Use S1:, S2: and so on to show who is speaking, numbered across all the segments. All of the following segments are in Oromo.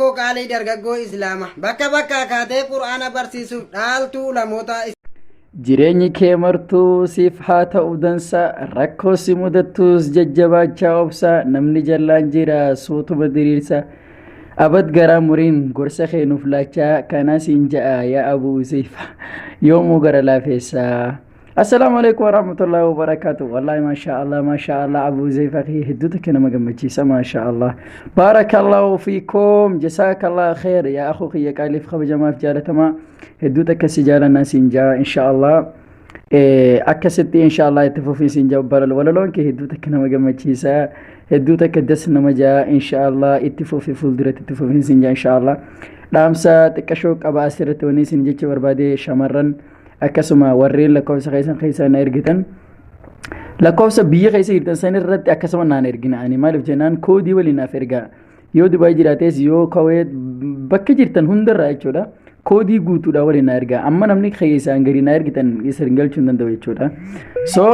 S1: Oromoo qaalii dargaggoo Islaama bakka bakkaa kaatee Qur'aana barsiisuuf dhaaltuu ulamootaa Jireenyi
S2: kee martuu siif haa ta'u dansa rakkoo si mudattus jajjabaachaa obsa namni jallaan jira suutuma diriirsa abad garaa muriin gorsa kee nuuf laachaa kanaa siin ja'a yaa abuu useefa yoomuu gara laafeessa. Assalaamu alaikum warahmatullahi wabarakatuh. Wallahi masha Allah masha Allah Abu Zayfa kee hedduu takka nama gammachiisa masha Allah. Barakallahu fiikum jazakallahu khair yaa akhuu kiyya qaaliif kabajamaaf jaalatamaa hedduu takka si jaalannaa siin jaa insha Allah. Eh, akkasitti insha Allah itti fufii siin jaa balal walaloon kee hedduu takka nama gammachiisa hedduu takka das nama jaa insha Allah itti fufii fuulduratti itti fufii siin jaa insha Allah. Dhaamsa xiqqashoo qaba asirratti wanni siin jecha barbaade shamarran akkasuma warreen lakkoofsa keessan keessaa na ergitan lakkoofsa biyya keessa jirtan san irratti akkasuma naan ergina ani maaliif jennaan koodii waliin naaf ergaa yoo Dubaay jiraates yoo Kuwait bakka jirtan hundarraa jechuudha koodii guutuudha waliin na ergaa amma namni keessaan gadi na ergitan isin galchuu hin danda'u jechuudha so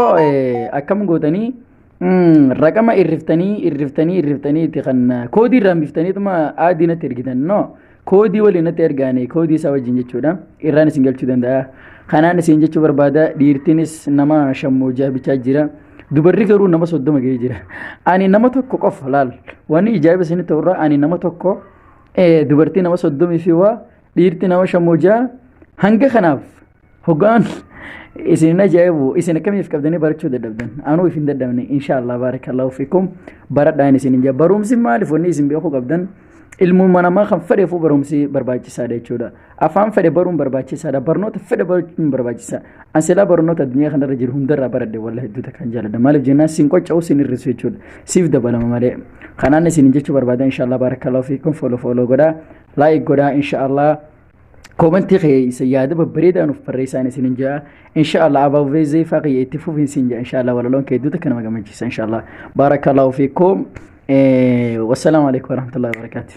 S2: akkam gootanii Raqama irriftanii irriftanii irriftanii itti kan koodii irraa biftanii tuma aadii natti ergitan no koodii waliin natti ergaanii koodii isaa wajjin jechuudha irraan isin galchuu danda'a. Kanaan isin jechuu barbaada dhiirtinis nama shammoo jaabichaa jira. Dubarri garuu nama soddoma ga'ee jira. Ani nama tokko qofa laal wanni ijaa'iba isin ta'urraa ani nama tokko dubartii nama soddomii fi waa dhiirti nama shammoo jaa hanga kanaaf Hoggaan isin hin ajaa'ibu isin akkamiif qabdanii barachuu dadhabdan anuu isin dadhabne inshaallah baarakallahu fikum baradhaan isin hin jaa barumsi maaliif wanni isin beekuu qabdan ilmuma namaa kan fedheefuu barumsi barbaachisaadha jechuudha afaan fedhe baruun barbaachisaadha barnoota fedhe baruun barbaachisaa an silaa barnoota addunyaa kanarra jiru hundarraa baradhe walla hedduuta kan jaaladha maaliif jennaan sin qocca'u sin hir'isu jechuudha siif dabalama malee kanaan isin jechuu barbaada inshaallah baarakallahu fikum fooloo fooloo godhaa laayik godhaa inshaallah koomantii keessa yaada babbareedaa nuuf barreessaan isin hin jaa inshaallah abaabee zeefaa kiyya itti fufiin siin jaa inshaallah walaloon kee hedduutu kan nama gammachiisa inshaallah baarakallaahu fiikum wassalaamu alaikum warahmatullahi wabarakaatuh